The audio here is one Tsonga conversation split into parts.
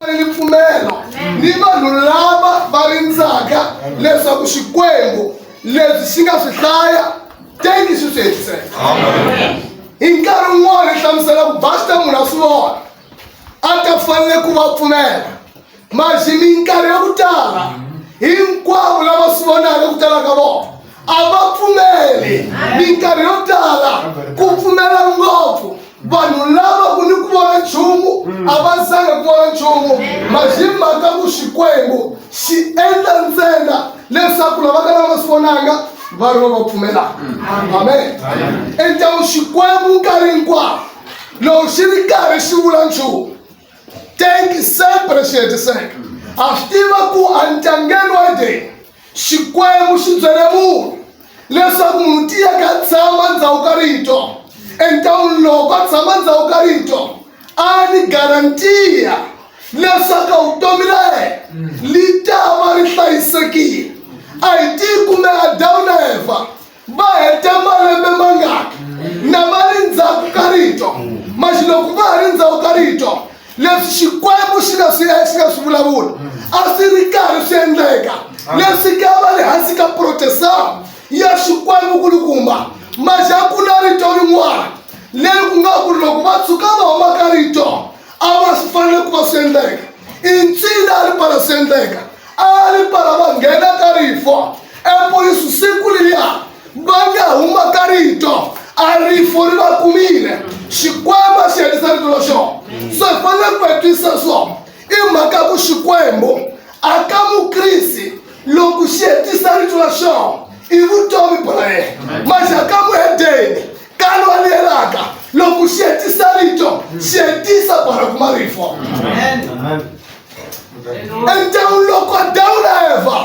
ripfumelo ni vanhu lava va rindzaka leswaku xikwembu leswi xi nga swi hlaya teki swi swi hetiseka hi nkarhi wun'wana hi hlamusela ku basta munhu a swi vona a ta fanele ku va pfumela maxi minkarhi ya ku tala hinkwavo lava swi vonaka ku tala ka vona a va pfumeli minkarhi yo tala ku pfumela ngopfu vanhu lava ku ni ku vona nchumu mm. a va zanga ku vona nchumu maximhaka ku xikwembu xi endla ntsena leswaku lava ka lava swi vonanga va ri va va pfumelaka mm. amen endlawu xikwembu nkarhi hinkwawo loko xi ri karhi xi vula nchumu tenki sempre xi hetiseka a swi tiva ku a ntlangeni wa deni xikwembu xi byele munhu leswaku munhu tiyeke a tshama ndhawu ka rito entawuni loko a tshama ndhawu ka rito a ni garantiya leswaku vutomi ra yena li ta va ri hlayisekile a hi tiyi kumbe adawu na eva va hete malembe mangaki na va ri ndzhaku ka rito maxi loko va ha ri ndzhaku ka rito leswi xikwembu xi nga swi xi nga swi vulavula a swi ri karhi swi endleka leswi ka va ri hansi ka protestant ya xikwembu kulukumba maxi a ku na rito rin'wana leri ku nga ku ri loko va tshuka va huma ka rito a va swi fanele ku va swi endleka i ncila a ri pala swi endleka a ri pala va nghena ka rifo epolisu siku liya va nga huma ka rito a rifo ri va kumile xikwembu a xi hetisa rito ra xona so hi fanele ku hetisa swona i mhaka ya ku xikwembu a ka mukrisi loko xi hetisa rito ra xona i vutomi bya yena manje a ka muhedeni ka lwa liyelaka loko xi hetisa rito xi hetisa bara kuma rifo Amen. Amen. endhawini loko dawula eva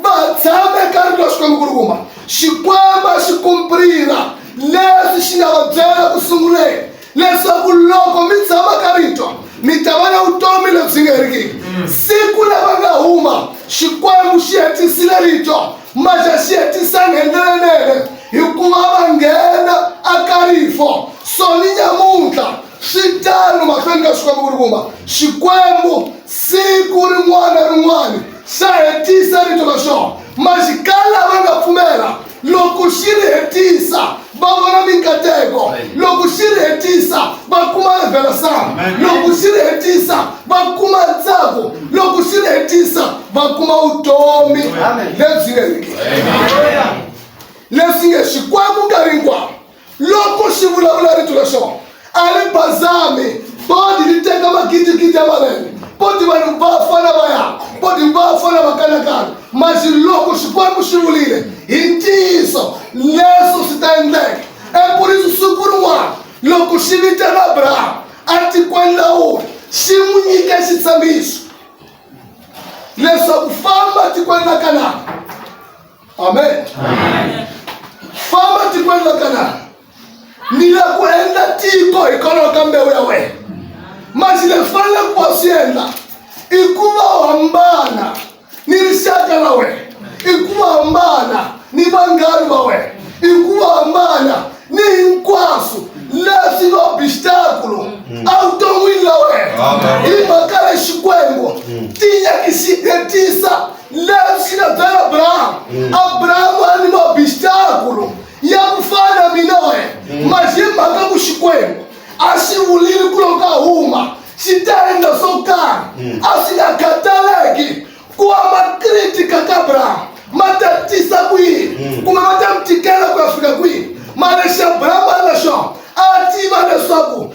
va tshama ekarhi ka xikwembu ku ri kuma xikwembu xi kumpirira leswi xi nga va byela ku sunguleni leswaku loko mi tshama ka rito mi ta va na vutomi lebyi nga herikiki mm. siku lava nga huma xikwembu xi hetisile rito maxa xi hetisanga hi ndlela nene hikuva va nghena a karifo so ni nyamuntlha swi tano mahlweni ka swikwembu ku ri kuma xikwembu siku rin'wana rin'wana xa hetisa rito ra xona maxikala va nga pfumela loko xi ri hetisa va vona minkateko loko xi ri hetisa va kuma revelasana loko xi ri hetisa va kuma ntsako loko xi ri hetisa va kuma vutomi lebyi nga riki leswi nge xikwembu nkarhi hinkwawo loko xi vulavula rito ra xona a ri bazami bodi ri teka magidigidi ya malembe bodi vanhu va fana va ya bodi va fana va kanakana maxi loko xikwembu xi vulile hi ntiyiso leswo swi ta endleka ekurisi siku rin'wana loko xi vitela abrahamu a tikweni la wona xi n'wi nyike xitshamiso leswaku famba tikweni la kanaka amen famba tikweni ra kanana ni la ku endla tiko hikwalaho ka mbewu ya wena masi leswi faneleke ku va swi endla i ku va u hambana ni rixaka ra wena i ku va hambana ni vanghani va wena i ku va hambana ni hinkwaswo leswi va obstaculo evuton'wini la wena hi mhaka ya xikwembu ti nyakisihetisa leswi nga byela abrahamu mm. abrahamu a ni mabistakulu ya ku fana mina wena mm. mazimhaka ku xikwembu a xi vulile ku loko a huma xi ta endla swo karhi mm. a swi nga khataleki ku va makritika ka abrahamu ma ta tisa ku yini kumbe ma ta mi tikela ku ya fika kwihi mara lexi abrahamu a nga xona a tiva leswaku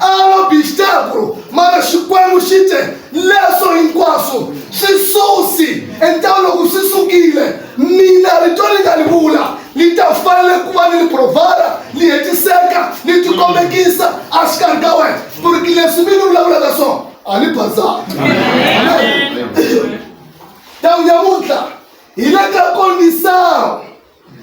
Alobixtekru mara Xikwembu xi te, Leswo hinkwaswo swi susi, entawni loko swi sukile, mina rito ni nga li vula li ta fanele ku va ni li provara, li hetiseka, li tikombekisa exikarhi ka wena ku ri ki leswi mi ni vulavulaka swona a ni bazanga. Amen. Tawu nyamuntlha hi le ka konisao.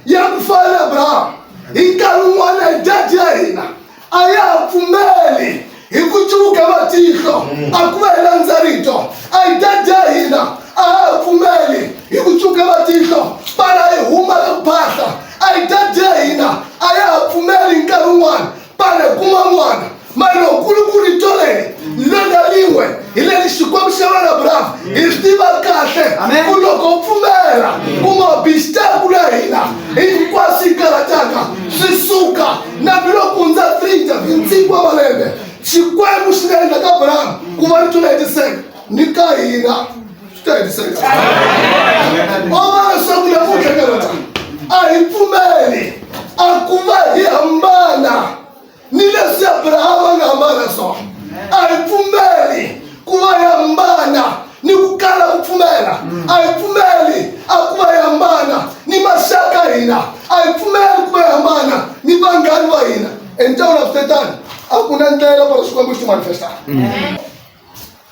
ya ku fana na abrahamu hi nkarhi wun'wana hi dadi ya hina a ya ha pfumeli hi ku cuvuka matihlo a ku va hi landza rito a hi dadi ya hina a ha ha pfumeli hi ku cuvuka matihlo pala hi huma ka ku phahla a hi dadi ya hina a ya ha pfumeli hi nkarhi wun'wana pale kuma mwana mali lokulukulu yi tolele lona lin'we hi le ni xikwembu xa wena bravo hi swi tiva kahle Amen. ku loko u pfumela ku nga bistar ku la hina hinkwaswo yi karataka swi suka na biloko ndza trinta hi ntsingo wa malembe xikwembu xi nga endla ka bravo ku va ri tula hetiseka ni ka hina swi ta hetiseka ova leswaku namuntlha ka rona a hi pfumeli a ku va hi hambana ni leswi abrahama a nga hambana swona a hi pfumeli ku va hi hambana ni ku kala ku pfumela a hi pfumeli a ku va hi hambana ni maxaka hina a hi pfumeli ku va hi hambana ni vanghani va hina enjawula kutetani a ku na ndlela para xikwembu xi manifestaka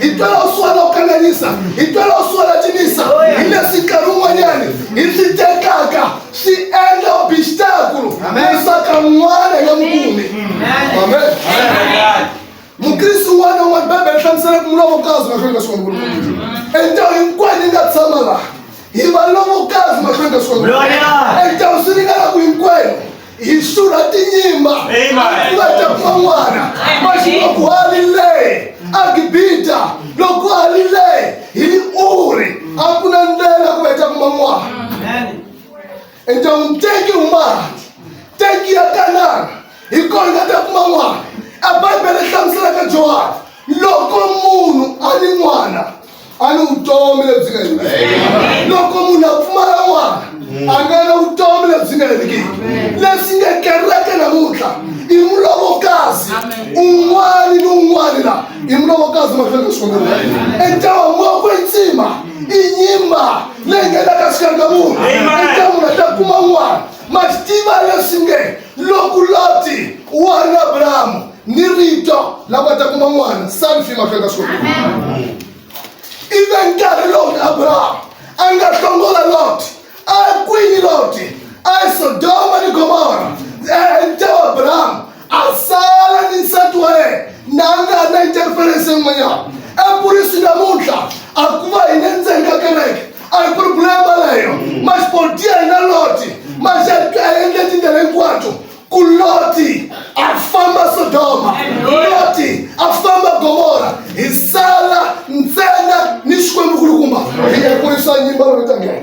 hi twela u suhana ku kanganyisa hi twela u suhana cinisa hi leswi nkarhi wun'wanyani hi swi tekaka swi endla obixtakulu lesaka n'wana ya mukumi amen mukrisi wun'wana wun'wana bibele yi hlamusela ku mulovokazi mahlweni ka swona endawu hinkwayo yi nga tshama laha hi valovokazi mahlweni ka swona endawu swi ringana ku hinkwayo hi hlula tinyimba Amen. va ta kuma n'wana maxi loko a ri le agibita loko a ri le hi uri a ku na ndlela ku va ta kuma n'wana endyangwini teki humati teki ya kanana hi kona nga ta kuma n'wana a bibele hlamuselaka johani loko munhu a ni n'wana a ni vutomi lebyi nga heriki loko munhu a pfumala n'wana mm. a nga na vutomi lebyi nga heriki leswi nga kereke namuntlha i mulovokazi un'wana ni un'wana la i mulovokazi mahlweni ka xikwembu entawa moko i ntsima i nyimba leyi nga la ka xikanga munhu eka munhu a ta kuma n'wana ma swi tiva leswi nge loko loti wa na abrahamu ni rito la nga ta kuma n'wana sani fi mahlweni ka swona ive nkarhi lowu abrahamu a nga hlongola loti a kwini loti a sodoma ni gomora enta wa abrahamu a sala ni nsati wa yena na a nga ri na interference yin'wanyana epurisi namuntlha a ku va hi le ndzeni ka kereke a hi ku ri bulembaleyo maxipoti ya hina loti maxaendle tindlela hinkwato ku loti a famba sodoma loti a famba gomora hi sala ntsena ni xikwembu kulukumba hi ya kurisa nyimba lolitangela